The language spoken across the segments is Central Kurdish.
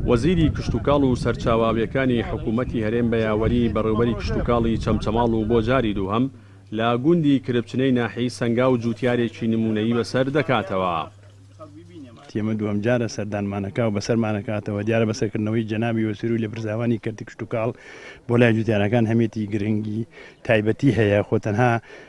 وەزیری کشتوکاڵ و سەرچاوە ئاوییەکانی حکوومەتی هەرێم بە یاوەری بەڕێوەبەری کشتوکاڵی چەمچەماڵ و بۆ جاری دووهەم لە گوندی کرپچنەی ناحیەی سەنگاو جووتیارێکی نموونەیی بەسەر دەکاتەوە. وتی، ئەمە دووهەم جارە سەردانمانەکا و بەسەرمانەکاتەوە، دیارە بەسەرکردنەوەی جەنابی وەزیر و لێپرسراوانی کەرتی کشتوکاڵ بۆ لای جووتیارەکان هەمێتی گرنگی تایبەتی هەیە، خۆ تەنها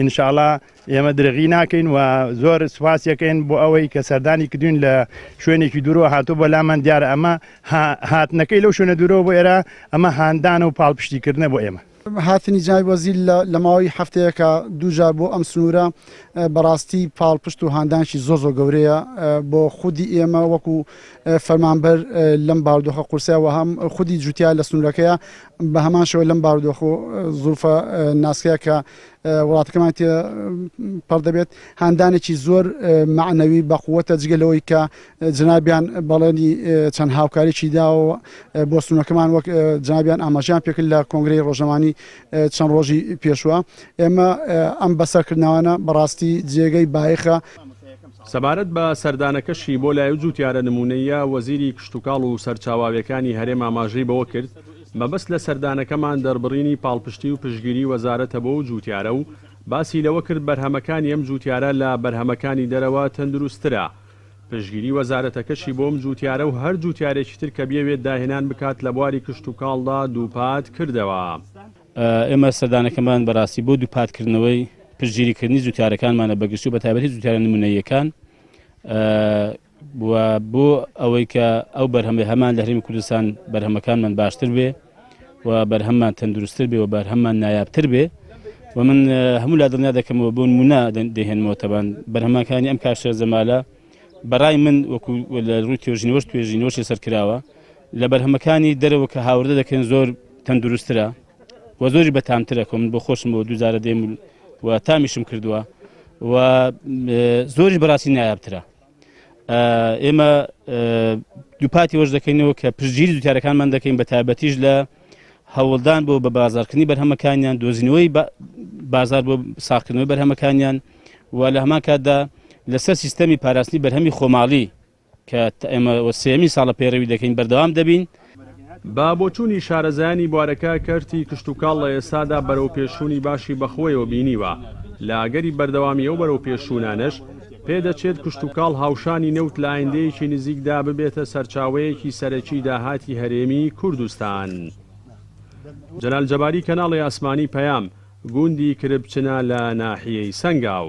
ان شاءاللە ئێمە درێغی ناکەین و زۆر سوپاسی ئەکەین بۆ ئەوەی کە سەردانی کردوین لە شوێنێکی دوورەوە هاتووە بۆ لامان دیارە ئەمە هاتنەکەی لەو شوێنە دوورەوە بۆ ئێرە ئەمە هاندانە و پاڵپشتیکردنە بۆ ئێمە. هاتنی جنابی وەزیر لە ماوەی هەفتەیەکە دوو جار بۆ ئەم سنوورە بەڕاستی پاڵپشت و هاندانکی زۆر زۆر گەورەیە بۆ خودی ئێمە وەکو فەرمانبەر لەم باردۆخە قورسە و هەم خودی جوتیا لە سنوورەکەیە بە هەمان شەوە لەم باردۆخۆ زروفە ناسکەیە کە وڵاتەکەمان تێ پڕ دەبێت هاندانێکی زۆر معنەوی بەقووەتە جگە لەوەی کە جنابیان بەڵێنی چەند هاوکاریی داوە بۆ سونەکەمان وەک جنابیان ئاماژیان پێکرد لە کۆنگری ڕۆژەمانی چەند ڕۆژی پێشوە ئێمە ئەم بەسەرکردناوانە بەڕاستی جێگەی بایخە سەبارەت بە سەردانەکەشی بۆ لای و جووتیارە نمونەییە وەزیری کشتوکاڵ و سەرچاواویەکانی هەرێم ئاماژەی بەوە کرد مەبەست لە سەردانەکەمان دەربڕینی پاڵپشتی و پشتگیری وەزارەتە بۆ ئەو جووتیارە و باسی لەوە کرد بەرهەمەکانی ئەم جووتیارە لە بەرهەمەکانی دەرەوە تەندروستترە پشتگیری وەزارەتەکەشی بۆ ئەم جووتیارە و هەر جووتیارێکی تر کە بیەوێت داهێنان بکات لە بواری کشتوکاڵدا دووپات کردەوە. ئێمە سەردانەکەمان بەراستی بۆ دووپات کردنەوەی پشتگیری کردنی جووتیارەکانمانە بەگشتی و بەتایبەتی جووتیارە نموونەییەکان، و بۆ ئەوەی کە ئەو بەرهەمەی هەمان لە هەرێمی کوردستان بەرهەمەکانمان باشتر بێ و بەرهەممان تەندروستتر بێ و بەرهەممان نایابتر بێ و من هەموو لا دڵنیا دەکەمەوە بۆن مونا دەهێنمەوە تەبان بەرهەمەکانی ئەم کاشە زەمالە بەڕای من وەکو لە ڕووی توێژینەوەش توێژینەوەشی سەرکراوە لە بەرهەمەکانی دەرەوە کە هاوردە دەکەن زۆر تەندروسترە و زۆری بەتامترە کە من بۆ خۆشم بۆ دووجارە دێم و تامیشم کردووە و زۆری بەڕاستی نایابترە ئێمە دووپاتی وەش دەکەینەوە کە پشتگیری دوتارەکانمان دەکەین بە تایبەتیش لە هەوڵدان بۆ بە بازارکردنی بەرهەمەکانیان دۆزینەوەی بازار بۆ ساقکردنەوەی بەرهەمەکانیان و لە هەمان کاتدا لەسەر سیستەمی پاراستنی بەرهەمی خۆماڵی کە ئێمە سێمی ساڵە پێڕەوی دەکەین بەردەوام دەبین بە بۆچوونی شارەزایانی بوارەکە، کەرتی کشتوکاڵ لە ئێستادا بەرەوپێشچوونی باشی بەخۆیەوە بینیوە، لە ئەگەری بەردەوامی ئەو بەرەوپێشچوونانەش، پێدەچێت کشتوکاڵ هاوشانی نەوت لە ئایندەیەکی نزیکدا ببێتە سەرچاوەیەکی سەرەکی داهاتی هەرێمی کوردستان. جەلال جەباری کەناڵی ئاسمانی پەیام، گوندی کرپچنە لە ناحیەی سەنگاو.